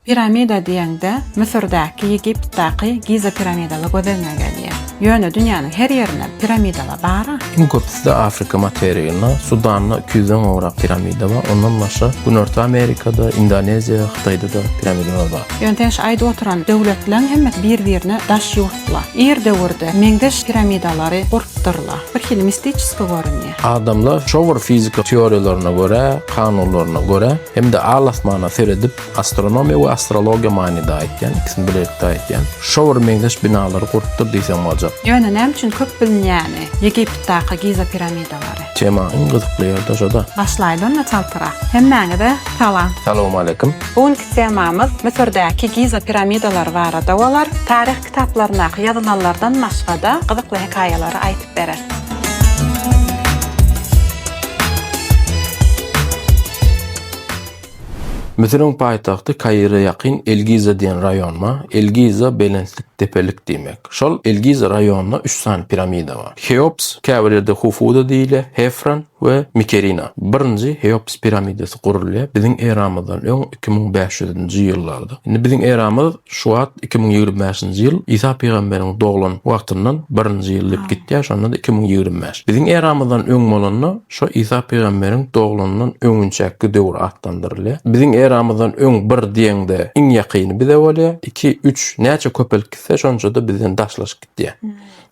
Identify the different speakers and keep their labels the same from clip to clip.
Speaker 1: Piramida diýeňde, Müsürdäki, Ýegiptdaky Giza piramidalar göz öňüňe gelýär. Ýöne dünýäniň her ýerinde piramidalar bar-a. Iň köpüsi-de
Speaker 2: Afrika materiginde, Sudanda iki ýüzden gowrak piramida bar. Ondan başga, Günorta Amerikada, Indoneziýa, Hytaýda-da piramidalar bar. Ýöne seň şu aýdyp oturan
Speaker 1: döwletleriň hemmesi bir-birine daş ýurtlar. Ir döwürde meňzeş piramidalary gurupdyrlar. Bir hili mistiçeskiý görünýär. Adamlar şo bir
Speaker 2: fizika teoriýalaryna görä, kanunlaryna görä hem-de al-asmana seredip, Astronomiýa we astrologiýa manyda aýtýan, ikisini bilelikde aýtýan. Şo bir meňzeş binalary gurupdyr diýseň boljak. Ýöne näme üçin köp
Speaker 1: bilinýäni, Ýegiptdaky Giza piramidalary. Tema iň gyzykly
Speaker 2: ýerde şoda. Başlaýly onda çaltrak.
Speaker 1: Hemmäňize salam. Salowmaleýkim.
Speaker 2: Bu günki temamyz
Speaker 1: Müsürdäki Giza piramidalary barada bolar. Taryh kitaplaryndaky ýazylanlardan başgada gyzykly hekaýalary aýtyp bereris.
Speaker 2: Müsüriň paýtagty Kaire ýakyn El-Giza diýen raýonma, El-Giza belentlik, depelik diýmek. Şol El-Giza raýonynda üç sany piramida bar. Heops, käbir ýerde Hufuda diýilýär, Hefran we Mikerina. Birinji Heops piramidasy gurulýar biziň eramyzdan öň iki müň bäş ýüz nji ýyllarda. Indi biziň eramyz. Şuwagt iki müň ýigrimi bäşinji ýyl Isa pygamberiň doglan wagtyndan birinji ýyl diýip gitýär, şonda-da iki müň ýigrimi bäş. Biziň eramyzdan öň bolanda şo Isa pygamberiň doglanyndan öňünçäki döwür atlandyrylýar. Biziň eramyzdan öň bir diýeňde iň ýakyny bize bolýar, iki, üç, näçe köpelip gitse şonça-da bizden daşlaşyp gitýär.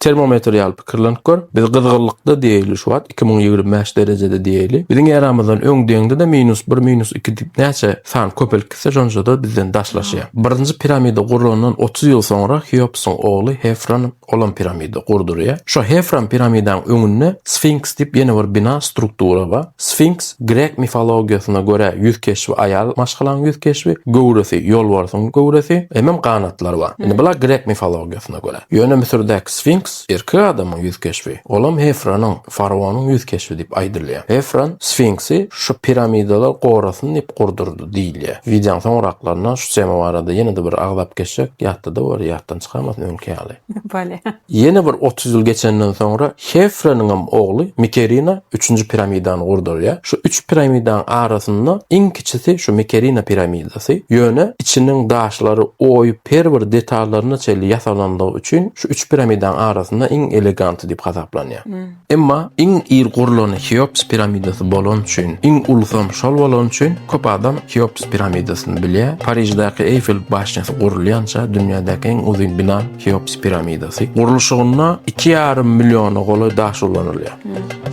Speaker 2: Termometr ýaly pikirlenip gör. Biz gyzgynlykda diýeli şu wagt iki müň ýigrimi bäş derejede diýeli. Biziň eramyzdan öň deňde-de minus bir, minus iki diýip näçe san köpelip gitse şonça-da bizden daşlaşýar. Birinji piramida gurlandan otuz ýyl soňra Heopsyň ogly Hefran olam piramida gurdurýar. Şo Hefran piramidanyň öňünde Sfinks diýip ýene bir bina, struktura bar. Sfinks grek mifologiýasyna görä ýüz keşbi aýal maşgalaň ýüz keşbi, göwresi ýolbarsyň göwresi, hemem ganatlary bar. Indi bular grek mifologiýasyna görä. Ýöne Müsürdäki Sfinks erkek adamyň ýüz keşbi, olam Hefronyň, faraonyň ýüz keşbi diýip aýdylýar. Hefron Sfinksi şu piramidalar gorasyn diýip gurdurdy diýilýär. Wideoň soňraklarynda şu tema barada ýene-de bir agzap geçsek ýatda-da bolar, ýatdan çykamasyn öňki ýaly. Bolýar.
Speaker 1: Ýene bir otuz
Speaker 2: ýyl geçenden soňra Hefronyňam ogly Mikerina üçünji piramidany gurdurýar. Şu üç piramidanyň arasynda iň kiçisi şu Mikerina piramidasy. Ýöne içiniň daşlary oýup her bir detallaryna çenli ýasalanlygy üçin şu üç piramidanyň arasynda iň eleganty diýip hasaplanýar. Emma iň ir gurlany Heops piramidasy bolany üçin, iň ulusam şol bolany üçin köp adam Heops piramidasyny bilýär. Pariždäki Eýfel başnýasy gurulýança dünýädäki iň uzyn bina. Heops piramidasy. Gurluşygynda iki ýarym milliona golaý daş ulanylýar.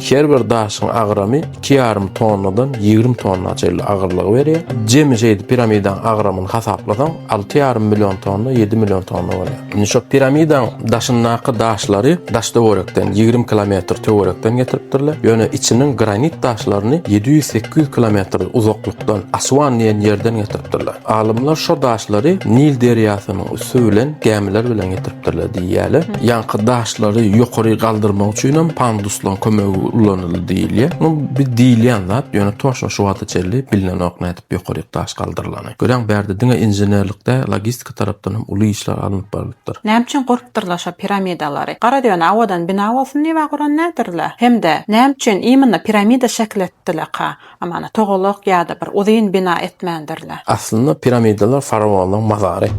Speaker 2: Her bir daşyň agramy iki ýarym tonnadan ýigrimi tonna çenli agyrlygy berýär. Jemi şeýdip piramidanyň agramyny hasaplasaň, alty ýarym million tonna, ýedi million tonna bolýar. Indi şo piramidanyň daşyndaky daşlary daş-töwerekden, ýigrimi kilometr töwerekden getiripdirler. Ýöne içiniň granit daşlaryny ýedi ýüz, sekiz ýüz kilometr uzaklykdan, Asuan diýen ýerden getiripdirler. Alymlar şo daşlary Nil derýasynyň Süzülen gämiler bilen getiripdirler diýýärler. Ýaňky daşlary ýokary galdyrmak üçin hem panduslaryň kömegi ulanyldy diýilýär. Bu bir diýilýän zat, ýöne toşna şu wagta çenli bilinenok nädip ýokaryk daş galdyrylany. Görýäňmi, bärde diňe inženerlikde, logistika tarapdan hem uly işler alnyp barlypdyr. Näme üçin gurupdyrlar
Speaker 1: şo piramidalary? Gara döne awadan bina bolsun diýibä guran nädirler? Hem-de näme üçin imенно piramida şekil etdilerka? Amana togalak ýa-da bir uzyn bina etmändirler. Aslynda piramidalar
Speaker 2: faraonlaryň mazary.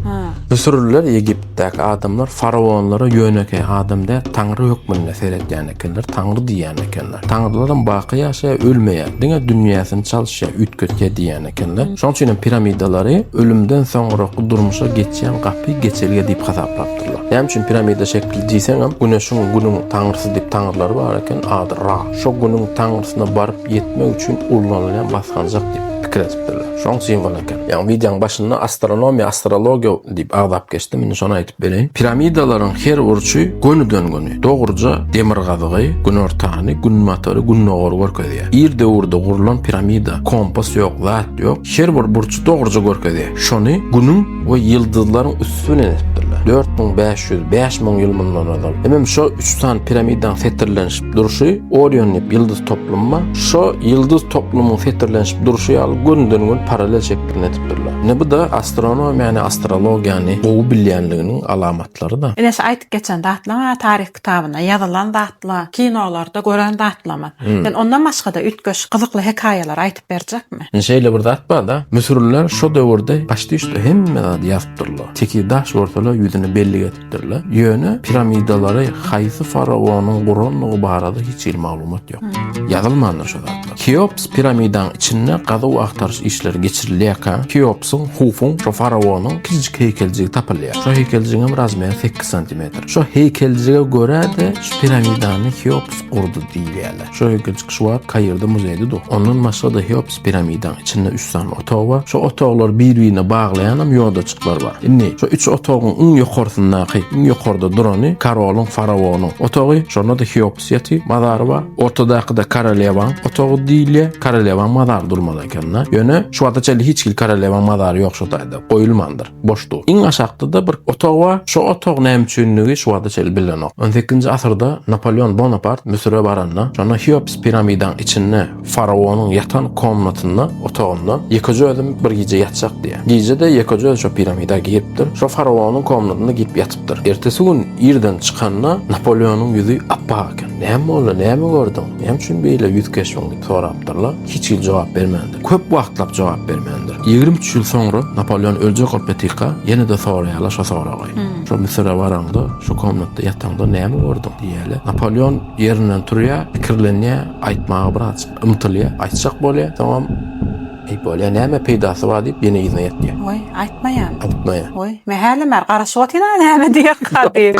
Speaker 2: Müsürliler Ýegiptdäki adamlar faraonlara ýönekeý adam däl, taňry hökmünde seredýän ekenler, taňry diýýän ekenler. Taňrylaram baky ýaşaýar, ölmeýär, diňe dünýäsini çalyşýar, üýtgetýär diýýän ekenler. Şonuň üçinem piramidalary ölümden soňraky durmuşa geçýän gapy, geçelge diýip hasaplapdyrlar. Näme üçin piramida şekili diýseňem, Güneşiň, Günüň taňrysy diýip taňrylary bar eken, ady Ra. Şo Günüň taňrysyna baryp, ýetmek üçin ullanylýan basganjak diýip pikir edipdirler. Şoň simwol eken. Ýa wideoň başynda astronomiýa, astrologiýa diýip agzap geçdim, indi şony aýdyp bereýin. Piramidalaryň her burçy gönüden-göni, dogruja demirgazygy, günortany, günbatary, gündogary görkezýär. Ir döwürde gurlan piramida, kompas ýok, zat ýok, her bir burçy dogruja görkezýär. Şony Günüň we ýyldyzlaryň üsti bilen edipdirler. Dört müň bäş ýüz, bäş müň ýyl mundan ozal. Hemem şo üç sany piramidaň setirlenişi. Durşy Orion diýip ýyldyz toplumyma, şo ýyldyz toplumyň setirlenişip durşy ýaly gönüden-göni parallel şekilini edipdirler. Ine bu-da astronomiýany, astrologiýany gowy bilýänliginiň alamatlarydyr. Ine şu aýtyp geçen zatlaryň-a
Speaker 1: taryh kitabynda ýazylan zatlar, kinolarda gören zatlarymyz. Sen ondan başga-da üýtgeşik, gyzykly hekaýalary aýtyp berjekmi? Ine şeýle bir zat bar-da,
Speaker 2: müsürliler şo döwürde, paçti-üsti hemme zady ýazypdyrlar. Tekiz daş görseler ýüzüne bellik edip. Ýerleşdirilipdirler. Ýöne piramidalary haýsy faraonyň gurandygy barada hiç hili maglumat ýok. Ýazylmandyr şu zatlar. Keops piramidaň içinde gazuw-agtaryş işleri geçirilýärkä, Keopsyň, Hufuň, şo faraonyň kiçijik heýkeljigi tapylýar. Şo heýkeljigiňem razmeri sekiz santimetr. Şo heýkeljige görä-de, şu piramidany Keops gurdy diýilýärler. Şo ýylky çykyş wagt Kairde muzeýde dur. Ondan başga-da Heops piramidaň içinde üç sany otag bar. Şo otaglary bir-birine baglaýanam ýodajyklar bar. Indi şo üç otagyň iň ýokarsyndaky, iň ýokarda durany karolyň, faraonyň otagy. Şonda-da Heops ýaty, mazary bar. Ortadaky-da korolewaň otagy diýilýär. Korolewaň mazary durmaly eken-de. Ýöne şu wagta çenli hiç hili korolewaň mazary ýok şo taýda, goýulmandyr. boşdug. Iň aşakda-da bir otag bar, şo otag näme üçindigi şu wagta çenli bilinenok. On sekizinji asyrda Napoleon Bonapart Müsüre baranda, şonda Heops piramidaň içinde faraonyň ýatan komnatynda, otagynda ýekeje özüm bir gije ýatjak diýýär. Gije-de ýekeje özi şo piramida giripdir, şo faraonyň komnatynda girip ýatypdyr. Ertesi gün irden çykanda Napoleonyň ýüzi ap-ak eken. Näme boldy, näme gördüň, näme üçin beýle ýüz keşbiň? diýip sorapdyrlar. Hiç hili jogap bermändir. Köp wagtlap jogap bermändir. Ýigrimi üç ýyl soňra Napolýon öljek bolup ýatyka, ýene-de soraýarlar şo soragy. Şo Müsüre baraňda, şo komnatda ýataňda näme gördüň? diýýärler. Napolýon ýerinden turýar, pikirlenýär, aýtmaga biraz ymtylýar, aýtjak bolýar, soňam, Eý, bolýar, näme peýdasy bar diýip, ýene yzyna ýetýär. Woý, aýtmaýan.
Speaker 1: Aýtmaýan. Woý,
Speaker 2: mähelim bar,
Speaker 1: garaşyp otyr-a näme diýerka diýip.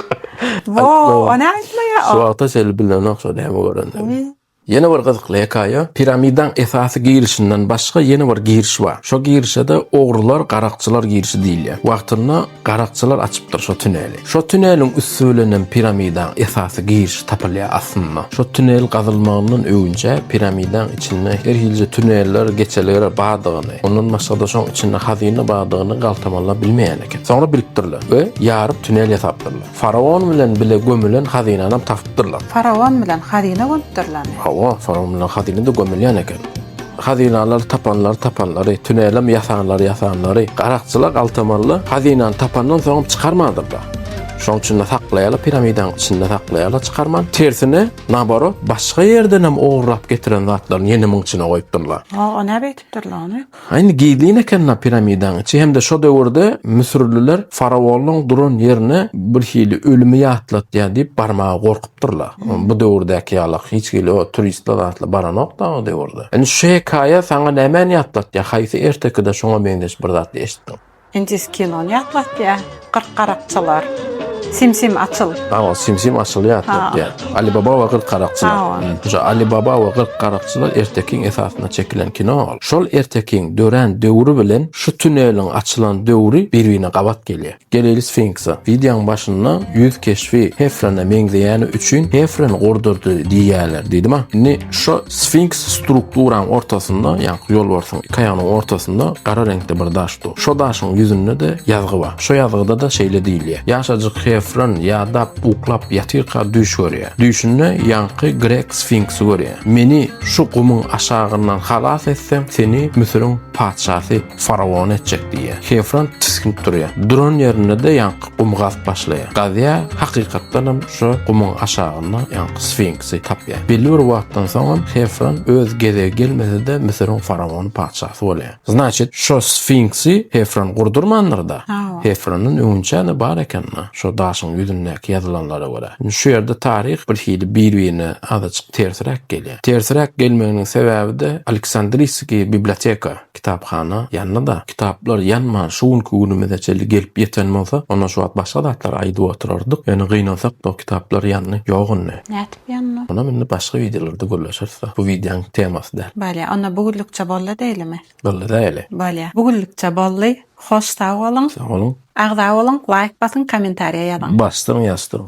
Speaker 1: Woý, o näme aýtmaýan? Şo wagta çenli
Speaker 2: bilenok şo näme görendigini. Ýene bir gyzykly hekaýa, piramidaň esasy girişinden başga ýene bir giriş bar. Şo girişede ogrular, garakçylar girişi diýilýär. Wagtynda garakçylar açypdyr şo tüneli. Şo tüneliň üsti bilenem piramidaň esasy girişi tapylýar aslynda. Şo tünel gazylmagyndan öwünçä piramidaň içinde her hilje tüneller, geçelger bardygyny, ondan başgada şoň içinde hazyna bardygyny galtamanlar bilmeýän eken. Soňra bilipdirler we ýaryp tünel ýasapdyrlar. Faraon bilen bile gömülen hazynanam tapypdyrlar. Faraon bilen hazyna
Speaker 1: gömüpdirlermi? Hawa, faraon bilen
Speaker 2: hazyna-da gömülýän eken. Hazynalary tapanlary tapanlary, tünelem ýasanlary ýasanlary, garakçylar galtamanlar hazynany tapandan soňam çykarmandyrlar. Şonuň üçin-de saklaýarlar, piramidanyň içinde saklaýarlar çykarman. Tersine, naborot, başga ýerdenem ogurlap getiren zatlaryny ýene muň içine goýupdyrlar. Hawa, näme etipdirler
Speaker 1: ony? Ha indi gizlin
Speaker 2: eken-la piramidaň içi hem-de şo döwürde müsürliler faraonyň duran ýerini birhili ölümi ýatlatýar diýip barmaga gorkupdyrlar. Bu döwürdäki ýalak hiç hili o turistler zatlar baranok-da o döwürde. Indi şu hekaýa saňa nämäni ýatlatýar, haýsy ertekide şoňa meňzeş bir zat eşitdiň? Indis kinony
Speaker 1: ýatlatýa. Kyrk garakçylar. Sim sim açyl.
Speaker 2: Hawa sim sim açyl ýatlatýa. Ali baba we kyrk garakçylar. Hawa. Şu Ali baba we kyrk garakçylar ertekiň esasynda çekilen kino ol. Şol ertekiň dörän döwri bilen şu tuneliň açylan döwri bir birine gabat gelýä. Geleýli sfinksa. Wideoň başynda ýüz keşbi Hefrene meňzeýäni üçin Hefren gurdurdy diýýäler diýdim a. Indi şo Sfinks strukturaň ortasynda, ýagny ýolbarsyň iki aýagynyň ortasynda gara reňkde bir daş dur. Şo daşyň ýüzünde-de ýazgy bar. Şo ýazgyda-da şeýle diýilýär, Ýaşajyk Hefron ýadap, uklap ýatyrka düýş görýär. Düýşünde ýaňky grek sfinksi görýär. Meni şu gumuň aşagyndan halas etseň, seni Müsüriň patyşasy faraon etjek diýýär. Hefron tisginip durýar. Duran ýerinde-de ýaňky gumy gazyp başlaýar. Gazýar, hakykatdanam şo gumuň aşagynda ýaňky sfinks. şansy tapýar. Belli bir wagtdan soňam Hefron öz gezegi gelmese-de Müsüriň faraony patyşasy bolýar. Znaçit, şo Sfinksi Hefron gurdurmandyr-da? Hefrondan öňünçä-de bar eken-la, şo daşyň ýüzündäki ýazylanlara görä. Indi şu ýerde taryh birhili bir-birine azajyk tersiräk gelýär. Tersiräk gelmeginiň sebäbi-de Aleksandriýskiý biblioteka. kitaphana ýandy-da, kitaplar ýanman şu günki günümize çenli gelip ýeten bolsa, onda şu wagt başga zatlar aýdyp oturardyk. Ýöne gynansak-da kitaplar ýandy. Ýok indi. Nätip ýandy?
Speaker 1: Munam indi başga
Speaker 2: wideolarda gürleşeris-de. Bu wideoň temasy däl. Bolýa. Onda bu günlükçe
Speaker 1: boldy diýlimi? Boldy diýeli.
Speaker 2: Bolýa. Bu günlükçe
Speaker 1: boldy. Hoş sag boluň. Sag boluň.
Speaker 2: Agza
Speaker 1: boluň, laýk basyň, kommentariýa ýazyň.
Speaker 2: Basdyň
Speaker 1: ýazdyň.